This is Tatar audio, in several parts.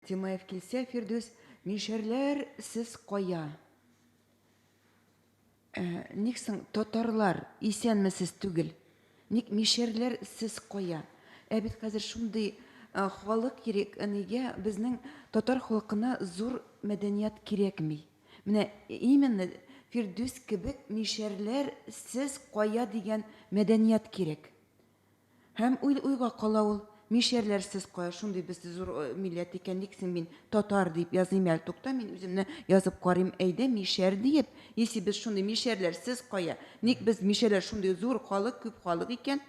Тимаев килсә, Фирдүс, мишәрләр сез кая? Ә, ник соң татарлар исәнмесез түгел? Ник мишәрләр сез кая? Ә бит хәзер шундый халык кирәк, нигә безнең татар халкына зур мәдәният кирәкми? Менә именно Фирдүс кебек мишәрләр сез кая дигән мәдәният кирәк. Һәм уй уйга кала ул, Мишәрләрсез кая шундый без зур милләт икән, ник син мин татар диеп языйм әле, тукта, мин үземне язып карыйм, әйдә, мишәр диеп, если без шундый мишәрләрсез кая, ник без мишәрләр шундый зур халык, күп халык икән,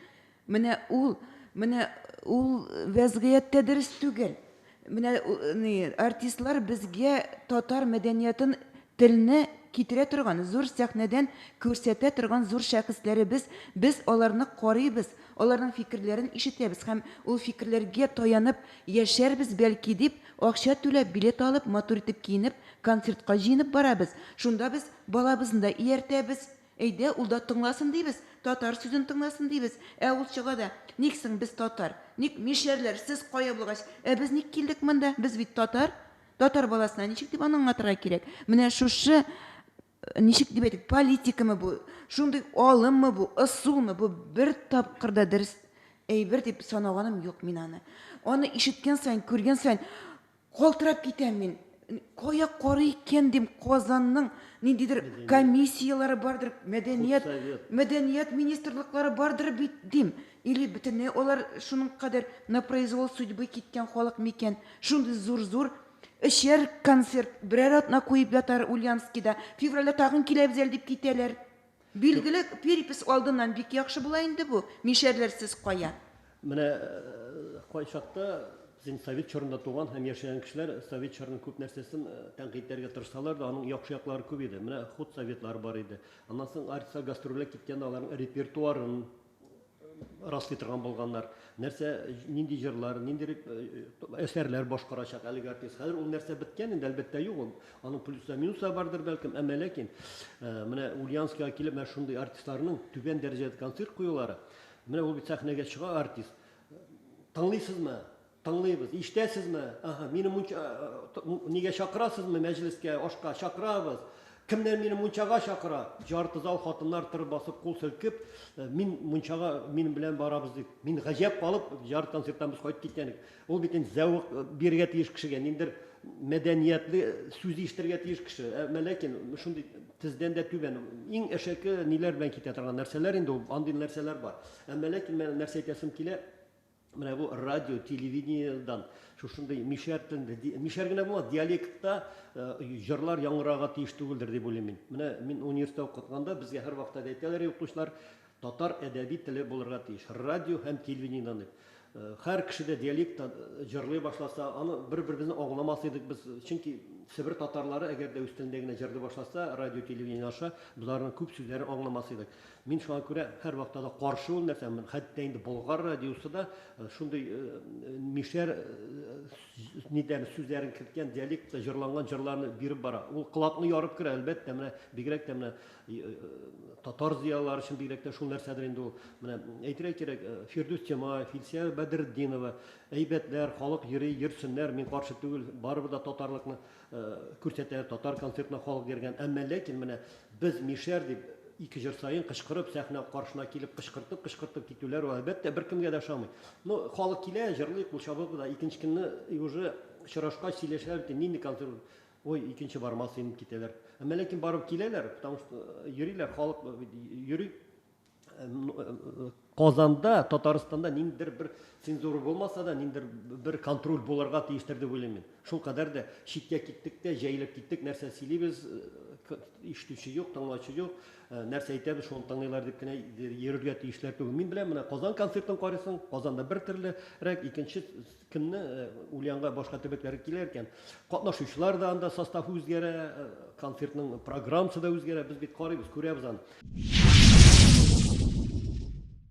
менә ул, менә ул вәзгыять тә дөрес түгел. Менә ни артистлар безгә татар мәдәниятын, телне китерә торган, зур сәхнәдән күрсәтә торган зур шәхесләребез, без аларны карыйбыз, аларның фикерләрен ишетәбез һәм ул фикерләргә таянып яшәрбез бәлки дип, акча түләп, билет алып, матур итеп киенеп, концертка җыенып барабыз. Шунда без балабызны да ияртәбез, Әйдә, ул да тыңласын дибез, татар сүзен тыңласын дибез. Ә ул чыга да, Ник соң без татар? Ник мишәрләр, сез кая булгач, ә без ник килдек монда? Без бит татар. Татар баласына ничек дип аны аңлатырга кирәк? Менә шушы, ничек дип әйтик, политикамы бу, шундый алыммы бу, ысулмы бу, бер тапкыр да дөрес әйбер дип санаганым юк мин аны. Аны ишеткән саен, күргән саен, Калтырап китәм мин. Кая карый икән дим, Казанның ниндидер комиссияләре бардыр, мәдәният, мәдәният министрлыклары бардыр бит дим. Или бөтенләй алар шуның кадәр на произвол судьбы киткән халык микән? Шундый зур-зур эчәр концерт, берәр атна куеп ятар Ульянскида, февральдә тагын киләбез әле дип китәләр. Билгеле, перепись алдыннан бик яхшы була инде бу, мишәрләр сез кая? Менә кайчакта син совет чорында туган һәм яшәгән кешеләр совет чорының күп нәрсәсен тәнкыйтьләргә тырышсалар да, аның яхшы яклары күп иде. Менә худсоветлар бар иде. Аннан соң артистка гастрольгә киткәндә аларның репертуарын, раслый торган булганнар. Нәрсә, нинди җырлар, нинди әсәрләр башкарачак әлеге артист. Хәзер ул нәрсә беткән инде, әлбәттә юк ул. Аның плюслар, минуслар бардыр бәлкем, әмма ләкин менә Ульянскига килеп менә шундый артистларның түбән дәрәҗәдә концерт куюлары, менә ул бит сәхнәгә чыга артист. Тыңлыйсызмы? Тыңлыйбыз. Ишетәсезме? Аһа, мине мунча, нигә чакырасызмы мәҗлескә, ашка? Чакырабыз. Кемнәр мине мунчага чакыра? Җарты зал хатыннар тыр басып кул селкеп, мин мунчага минем белән барабыз дип. Мин гаҗәп калып, җар концерттан без кайтып киткәнек. Ул бит инде зәвык бирергә тиеш кешегә, ниндидер мәдәниятле сүз ишетергә тиеш кеше. Әмма ләкин шундый тездән дә түбән, иң әшәке ниләр белән китә торган нәрсәләр инде ул, андый нәрсәләр бар. Әмма ләкин менә нәрсә әйтәсем килә, Менә бу радио, телевидениедан шушындый мишәр телендә, мишәр генә булмас, диалектта җырлар яңгырарга тиеш түгелдер дип уйлыйм мин. Менә мин университетта укытканда безгә һәрвакыт да әйтәләр иде укытучылар, татар әдәби теле булырга тиеш, радио һәм телевидениедан дип. Һәр кеше дә диалектта җырлый башласа, аны бер-беребезне аңламас идек без, чөнки Себер татарлары әгәр дә үз телендә генә җырлый башласа, радио, телевидение аша, без аларның күп сүзләрен аңламас идек. Мин шуңа күрә һәрвакта да каршы ул нәрсә, хәтта инде Болгар радиосы да шундый мишәр нидән сүзләрен керткән диалектта җырланган җырларны биреп бара. Ул колакны ярып керә, әлбәттә, менә бигрәк тә менә татар зыялылары өчен бигрәк тә шул нәрсәдер инде ул. Менә әйтергә кирәк, Фирдүс Тямаев, Илсөя Бәдретдинова, әйбәтләр, халык йөри, йөрсеннәр, мин каршы түгел, барыбыз да татарлыкны Күрсәтәләр, татар концертына халык йөргән, әмма ләкин менә без мишәр дип, ике җыр саен кычкырып, сәхнә каршына килеп кычкыртып-кычкыртып китүләр ул, әлбәттә, беркемгә дә ошамый. Ну, халык килә, җырлый, кул чабып уза, икенче көнне и уже очрашкач сөйләшәләр икән, нинди концерт ул? Ой, икенче бармас идем, дип китәләр. Әмма ләкин барып киләләр, потому что йөриләр, халык бит йөри. Казанда, Татарстанда ниндидер бер цензура булмаса да, ниндидер бер контроль булырга тиештер дип уйлыйм мин. Шул кадәр дә читкә киттек тә, җәелеп киттек, нәрсә сөйлибез, э, ишетүче юк, тыңлаучы юк, э, нәрсә әйтәбез, шуны тыңлыйлар дип кенә йөрергә тиешләр түгел. Мин беләм, менә Казан концертын карыйсың, Казанда бер төрлерәк, икенче Көнне Ульянга башка төбәкләр килә икән, катнашучылар да анда состав үзгәрә, концертның программасы да үзгәрә. Без бит карыйбыз, күрәбез аны.